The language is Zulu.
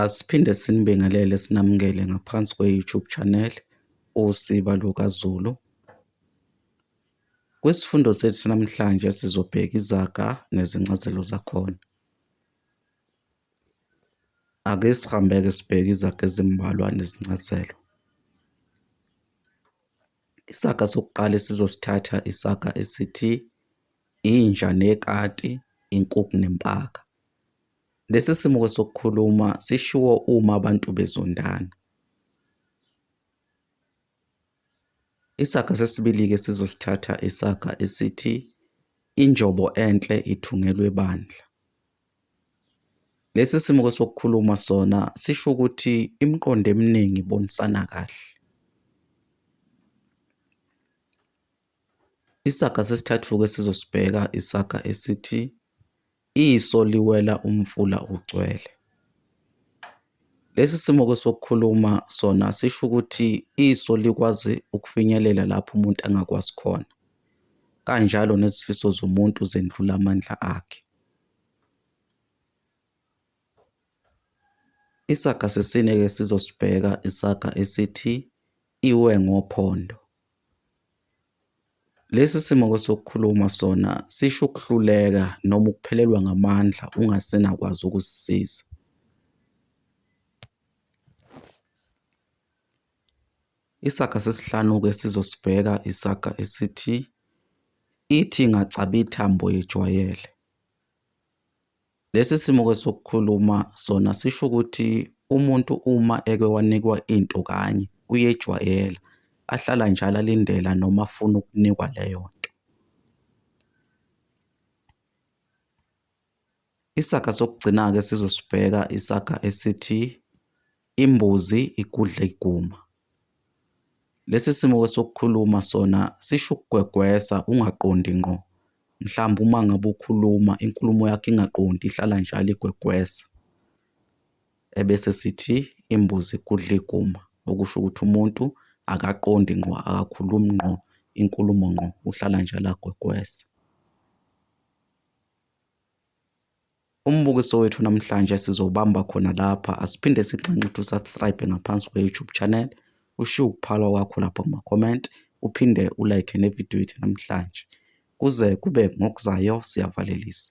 Asiphinde sinibingelele sinamukele ngaphansi kwe-YouTube channel Usiba LukaZulu. Kwisifundo sethu namhlanje sizobheka izaga nezincazelo zakhona. Ake sihambeke sibheke izaga ezimbalwa nezincazelo. Isaga sokuqala esizosithatha isaga esithi inja nekati, inkukhu nempaka. Lesi simuko sokukhuluma sishiwo uma abantu bezondana. Isaga sesibili-ke sizosithatha isaga esithi injobo enhle ithungelwe bandla. Lesi simuko sokukhuluma sona sisho ukuthi imiqondo eminingi ibonisana kahle. Isaga sesithathu-ke sizosibheka isaga esithi Iso liwela umfula ugcwele. Lesi simo-ke sokukhuluma sona sisho ukuthi iso likwazi ukufinyelela lapho umuntu angakwazi khona. Kanjalo nezifiso zomuntu zendlula amandla akhe. Isaga sesine-ke sizosibheka isaga esithi iwe ngophondo. Lesi simo kwesokukhuluma sona sisho ukuhluleka noma ukuphelelwa ngamandla ungasenakwazi ukuzisiza. Isaga sesihlanu-ke sizosibheka isaga esithi ithi ingacaba ithambo yejwayele. Lesi simo-ke sokukhuluma sona sisho ukuthi umuntu uma eke wanikwa into kanye uyejwayela, ahlala njalo alindela noma afuna ukunikwa leyo nto. Isaga sokugcina-ke esizosibheka isaga esithi Imbuzi igudla iguma. Lesi simo-ke sokukhuluma sona sisho ukugwegwesa ungaqondi ngqo. Mhlawumbe uma ngabe ukhuluma inkulumo yakho ingaqondi ihlala njalo igwegwesa. Ebese sithi imbuzi igudla iguma, okusho ukuthi umuntu akaqondi ngqo, akakhulumi ngqo inkulumo ngqo, uhlala njalo agwegwesa. Umbukiso wethu namhlanje sizowubamba khona lapha. Asiphinde sigxanxe ukuthi usubscribe ngaphansi kwe-YouTube channel. Ushiye ukuphalwa kwakho lapho kuma-comment. Uphinde ulike nevidiyo yethu namhlanje. Kuze kube ngokuzayo siyavalelisa.